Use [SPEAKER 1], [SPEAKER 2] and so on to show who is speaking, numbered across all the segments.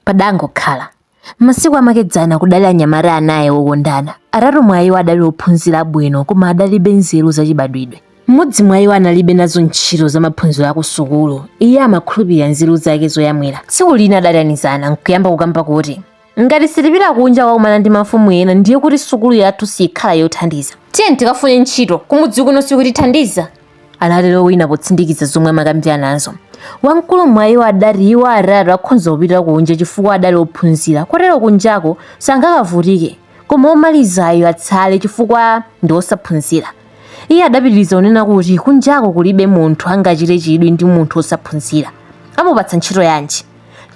[SPEAKER 1] Padangokhala. Masiku amakedzana kudali anyamata anayi okondana. Atatu mwa iwo adali ophunzira bwino koma adalibe nzeru zachibadwidwe. Mmodzi mwa iwo analibe nazo ntchito za maphunziro a kusukulu. Iye amakhulupirira nzeru zake zoyamwira. Tsiku lina adaitanizana n'kuyamba kukamba kuti, Ngati sitipita kunja kukakumana ndi mafumu ena ndiye kuti sukulu yathu siikhala yothandiza. Tiyeni tikafune ntchito, kumudzi kuno sikutithandiza. anatero wina potsindikiza zomwe amakambiranazo wamkulu mwa iwo adati iwo atatu akhonza kupita kunja chifukwa adali ophunzira kotero kunjako sangakavutike koma omalizayo atsale chifukwa ndi osaphunzira iye adapitiriza kunena kuti kunjako kulibe munthu angachite chidwi ndi munthu osaphunzira amupatsa ntchito yanji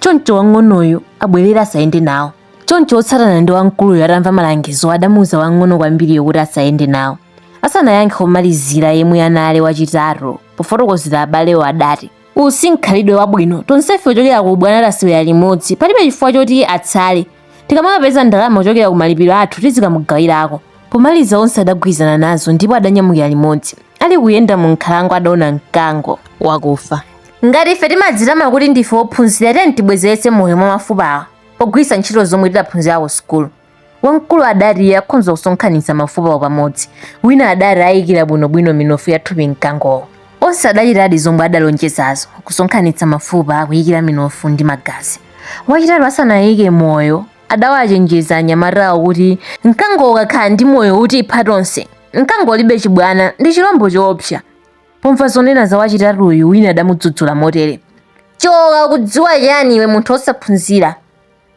[SPEAKER 1] choncho wang'onoyo abwerere asayende nawo choncho otsatana ndi wamkuluyo atamva malangizo adamuuza wang'ono kwambiriyo kuti asayende nawo asanayankhe omalizira yemwe anali wachitatu pofotokozera abalewo adati uwu si mkhalidwe wabwino tonsefe kuchokera ku ubwana tasewera limodzi palibe chifukwa choti atsale tikamakapeza ndalama kuchokera ku malipiro athu tizikamugawirako pomaliza onse adagwirizana nazo ndipo adanyamukira limodzi ali kuyenda mu nkhalango adaona mkango wakufa ngati ife timadzitama kuti ndife ophunzira tiyeni tibwezeretse moyo mwa mafupawa pogwiritsa ntchito zomwe tidaphunzira ku sukulu Wamkulu adati akhonza kusonkhanitsa mafupawo pamodzi, wina adati ayikira bwinobwino minofu ya thupi mkangowo. Onse adachitadi zomwe adalonjezazo, kusonkhanitsa mafupa, kuyikira minofu ndi magazi. Wachitatu asanayike moyo, adawachenjeza anyamatawo kuti mkangowo ukakhala ndi moyo utipha tonse. Mkango ulibe chibwana, ndi chilombo choopsa. Pomva zonena za wachitatuyu, wina adamudzudzula motere, Choka, ukudziwa chiyani iwe munthu wosaphunzira?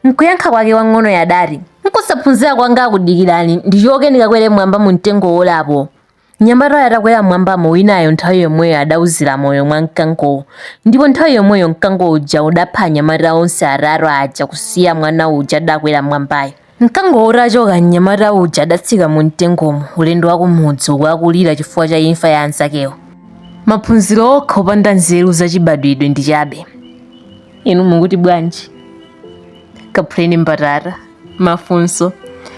[SPEAKER 1] Mkuyankha kwake wang'onoyo adati, Nkusaphunzira kwanga ako dikirani, ndichoke ndikakwere m'mwamba mu mtengo wolapo. Mnyamatayo atakwera m'mwambamo winayo nthawi yomweyo adauzira moyo mwa mkangowo, ndipo nthawi yomweyo mkango uja udapha anyamata onse atatu aja kusiya mwana uja adakwera m'mwambayo. Mkangowo utachoka, mnyamata uja adatsika mu mtengomo, ulendo wa kumudzi uku akulira chifukwa cha imfa ya anzakewo. Maphunziro okha opanda nzeru zachibadwidwe ndi chabe. inu mukuti bwanji kaphuleni mbatata mafunso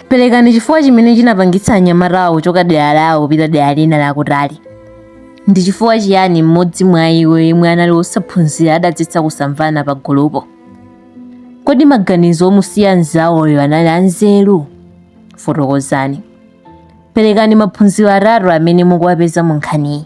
[SPEAKER 1] perekani chifukwa chimene chinapangitsa anyamatawa kuchoka dera lawo kupita dera lina lakutali ndi chifukwa chiyani mmodzi mwa iwo yemwe anali wosaphunzira adadzetsa kusamvana pa gulupo kodi maganizo omusiya mzawoyo anali anzeru fotokozani perekani maphunziro atatu amene mukuwapeza mu nkhaniyi